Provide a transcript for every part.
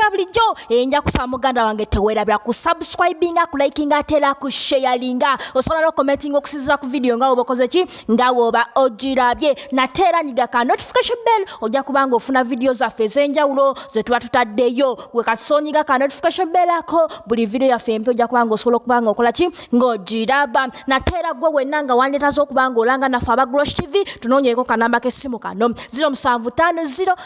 nga bulijjo enja kusaba muganda wange tewerabira ku subscribinga ku likinga atera ku sharinga osobola no commentinga okusinzira ku vidiyo nga woba okoze ki nga woba ogirabye nate era nyiga ka notification bell ojja kuba nga ofuna vidiyo zaffe ez'enjawulo ze tuba tutaddeyo gwe katusonyiga ka notification bell ako buli vidiyo yaffe empi ojja kuba nga osobola okuba nga okola ki ng'ogiraba nate era gwe wenna nga wandeetaza okuba nga olanga naffe aba grosh tv tunoonyeeko kanamba k'essimu kano 0 7 5 0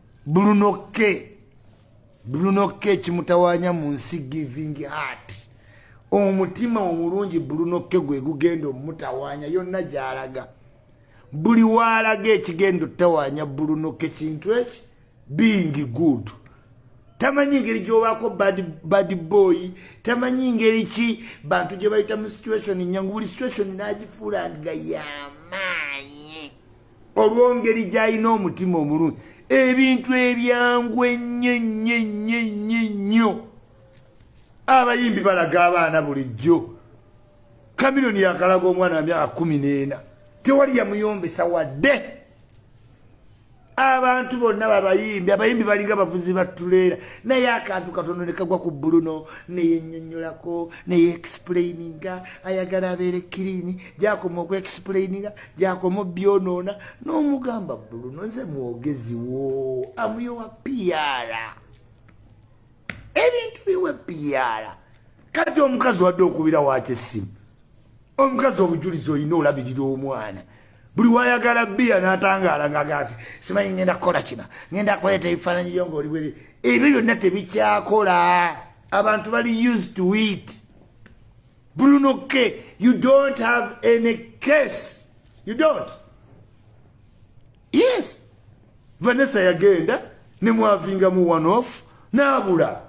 bulunoke bulunoke kimutawanya mu nsi giving heart omutima omulungi bulunoke gwe gugenda omutawanya yonna gyalaga buli waalaga ekigenda otawanya bulunoke kintu eki being good tamanyi ngeri gyobaako bad boy tamanyi ngeri ki bantu gye bayita mu situation nyangu buli situation nagifuula nga yamaanyi olwongeri gyalina omutima omulungi ebintu ebyangu ennyo ennyo ennyo ennyo ennyo abayimbi balaga abaana bulijjo kamironi yakalaga omwana wa myaka kumi n'ena tewali yamuyombesa wadde abantu bonna babayimbi abayimbi balinga bavuzi batuleera naye akantu katono nekagwa ku buluno neyenyonyolako neyeexplaininga ayagala abeere kirini gyakoma okuexplaininga gyakoma byonoona n'omugamba buluno nze mwogezi wo amuyowa piara ebintu biwe piara kati omukazi wadde okubira waaki essimu omukazi obujulizi olina olabirira omwana buli wayagala biya natangaala ngagati simanyi ngenda kukola kina ngenda kuleeta ebifaananyi byo ngaoli bwere ebyo byonna tebikyakola abantu bali used to it Bruno K, you don't have any case. You don't. Yes. Vanessa yagenda ne mwavinga mu one off nabula.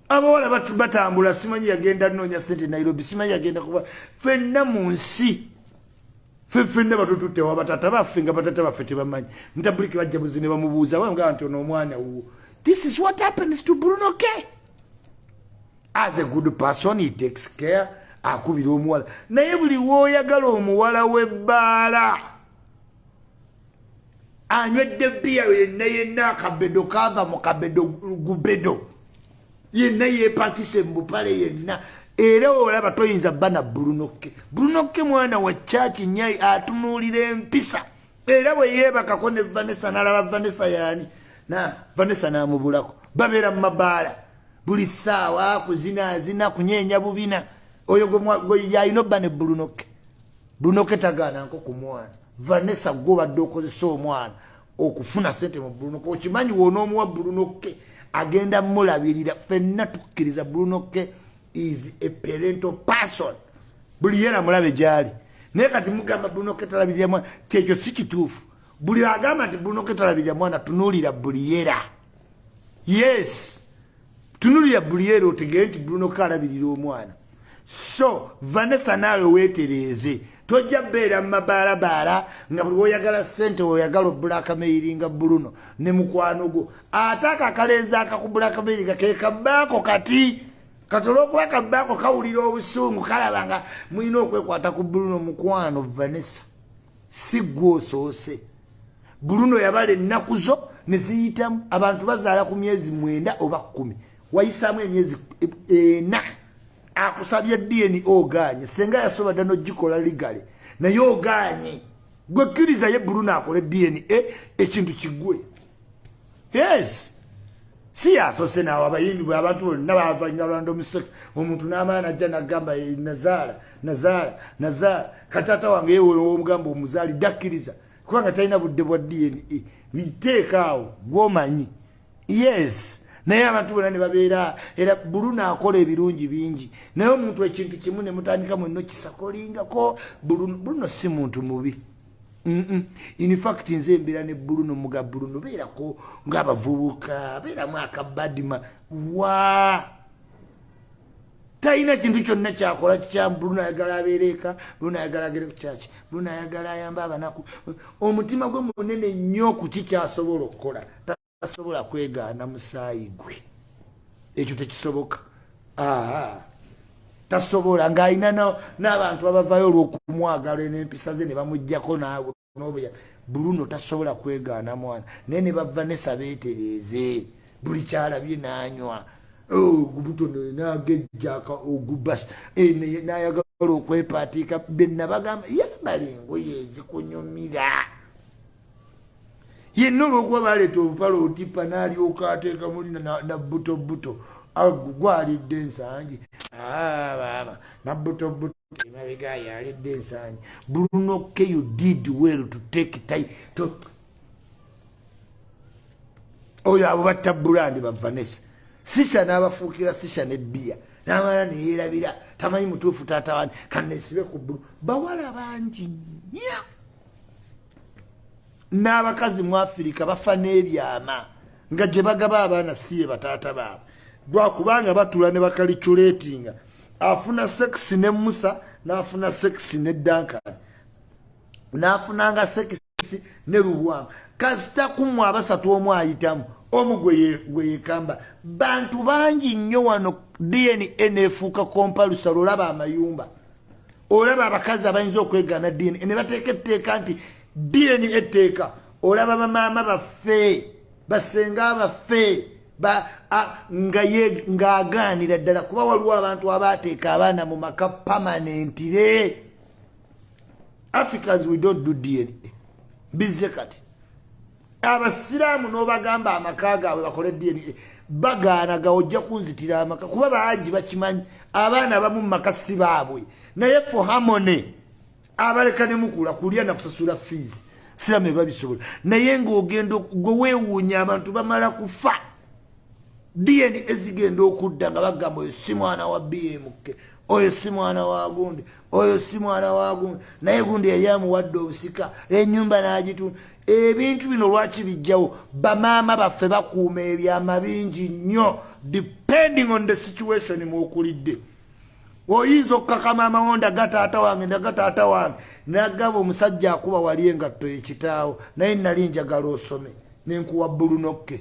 Abawala bat batambula simanyi yagenda nonya sente Nairobi simanyi yagenda kuba fenna mu nsi. Fe fenna batututte wa batata baffe nga batata baffe tebamanyi. Ntabuliki bajja buzine bamubuuza wanga anti ono omwana wuwo. This is what happens to Bruno K. as a good person he takes care akubira omuwala naye buli woyagala omuwala webbaala anywedde biya yenna yenna akabedo kava mu kabedo gubedo yenna yepatise mu bupale yenna era olaba toyinza bana brunokke brunokke mwana wa chaki nyai atunuulira empisa era bwe yeebakako ne vanessa nalaba vanessa yaani na vanessa namubulako babeera mu mabaala buli ssaawa kuzinaazina kunyeenya bubina oyo yalina obba ne bulunoke bulunoke tagaananko ku mwana vanessa gwe obadde okozesa omwana okufuna sente mu bulunoke okimanyi wonoomuwa bulunoke agenda mulabirira fenna tukkiriza bulunoke is a parental person buli yena mulabe gyali naye kati mugamba bulunoke talabirira mwana kyekyo si kituufu buli agamba nti bulunoke talabirira mwana tunuulira buli yera yes tunulira buliere otegere nti bruno kalabirira omwana so vanessa naawe wetereeze tojja beera mu mabaalabaala nga buli woyagala sente oyagala obula akameyiri nga buluno ne mukwano gwo ate ako akalenzi akakubula akameyiri nga kekabaako kati kati olwokuba kabaako kawulira obusungu kalaba nga mulina okwekwata ku buluno mukwano vanessa si gwe osoose buluno yabala ennaku zo ne ziyitamu abantu bazaala ku myezi mwenda oba kkumi wayisaamu emyezi ena akusabye dna ogaanye senga yasoba dda nogikola ligale naye ogaanye gwekkiriza ye buluno akole dna ekintu kigwe yes si yasose nawe abayimbi bwe abantu bonna bavanya lwanda omusoki omuntu n'amaana ajja nagamba eh, nazaala nazaala nazaala kataata wange yewolowomugamba omuzaali dakkiriza kubanga talina budde bwa dna biteekaawo e. gwomanyi yes naye abantu bona nebabeera era buluna akola ebirungi bingi naye omuntu ekintu kimu nemutandika mwenna okisakolingako buluno si muntu mubi in fact nze mbeera ne bruno muga bruno beerako ngaabavubuka beeramu akabadima wa talina kintu kyonna kyakola kikyamu bruno ayagala abeereeka bruno ayagala agere ku kyaki bruno ayagala ayamba abanaku omutima gwe munene nnyo ku kikyasobola okukola asobola kwegaana musaayi gwe ekyo tekisoboka tasobola ng'alina n'abantu abavayo olw'okumwagala n'empisa ze ne bamugjako naawe nobuya bruno tasobola kwegaana mwana naye ne bava nesa beetereeze buli kyalabye n'anywa ogubutono oh, nagejjaka ogubas eh, nayagala okwepaatiika benabagamba yambala engoye ezikunyumira yenna olwokuba baleeta olupala olutipa nalyoka ateeka muli nabuto buto gwalidde ensangi ah, baaba nabuto buto emabega yalidde ensangi brunoke you did well to take time to oyo abo batta bulandi bavanesa sisa n'abafuukira sisa ne bbiya n'amala neyerabira tamanyi mutuufu taata wani kanesibe ku bbulu bawala bangi nya n'abakazi mu afirika bafa n'ebyama nga gye bagaba abaana siye bataata baabwe lwakubanga batula ne bakaliculetinga afuna sekisi ne musa n'afuna sekisi ne dankan n'afunanga sekisi ne lubwamu kasita kumu abasatu omu ayitamu omu gwe yekamba bantu bangi nnyo wano dna nefuuka kompalusa lwolaba amayumba olaba abakazi abayinza okwegana dna ne bateeka etteeka nti dna etteeka olaba bamaama baffe basenga baffe ng'agaanira ddala kuba waliwo abantu abaateeka abaana mu maka pamanentire africans we don't do dna bizze kati abasiraamu n'obagamba amaka gaabwe bakole dna bagaana ga ojja kunzitira amaka kuba bangi bakimanyi abaana abamu mu maka si baabwe naye fo hamone abaleka ne mukula kulya na kusasula fees siramu ebabisobola naye ng'ogenda gwe weewuunya abantu bamala kufa dna ezigenda okudda nga bagamba oyo si mwana wa bmk oyo si mwana wa gundi oyo si mwana wa gundi naye gundi yali amuwadde obusika enyumba n'agitunda ebintu bino lwaki bijjawo bamaama baffe bakuuma ebyama bingi nnyo depending on the situation mwokulidde oyinza okukaka maama wo ndaga taata wange ndaga taata wange nagaba omusajja akuba wali engatto yekitaawo naye nali njagala osome nenkuwa bulunokke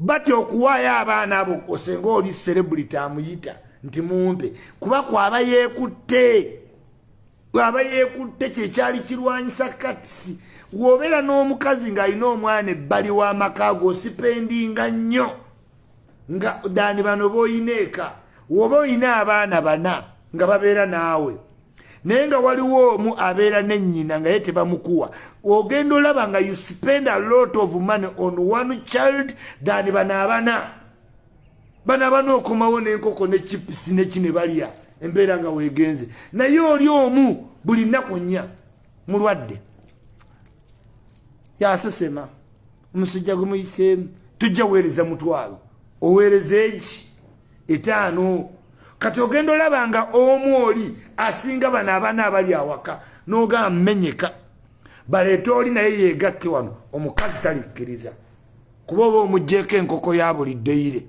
batya okuwaayo abaana abo osenga oli serebuliti amuyita nti mumpe kuba kwaba yeekutte aba yeekutte kyekyali kirwanyisa katisi wobeera n'omukazi ng'alina omwana ebbali w'amaka go osipendinga nnyo nga dani bano boolina eka woba olina abaana bana nga babeera naawe naye nga waliwo omu abeera ne nnyina nga ye tebamukuwa ogenda olaba nga you spend a lot of money on one child than bano abana bano abana okomawo nenkoko ne chips neki ne balya embeera nga wegenze naye oli omu buli nnaku nnya mulwadde yasesema omusajja gwe muyiseemu tujja weereza mutwalo oweereza egi etaano kati ogenda olaba nga omu oli asinga bano abaana abali awaka nogaa menyeka baleete oli naye yegakke wano omukazi talikkiriza kuba oba omugjeeko enkoko ya buli ddeyire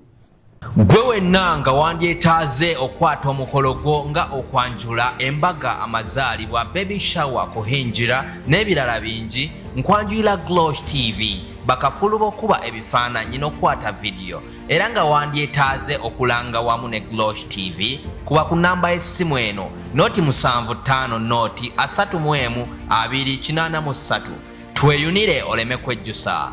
Gwe wenna nga wandyetaaze okukwata omukolo gwo nga okwanjula, embaga, amazaalibwa, baby shower, kuhingira n'ebirala bingi, nkwanjulira Glosh TV bakafulu b'okukuba ebifaananyi n'okukwata vidiyo era nga wandyetaaze okulanga wamu ne Glosh TV kuba ku nnamba y'essimu eno nooti musanvu ttaano nooti asatu mu emu abiri kinaana mu ssatu tweyunire oleme kwejjusa.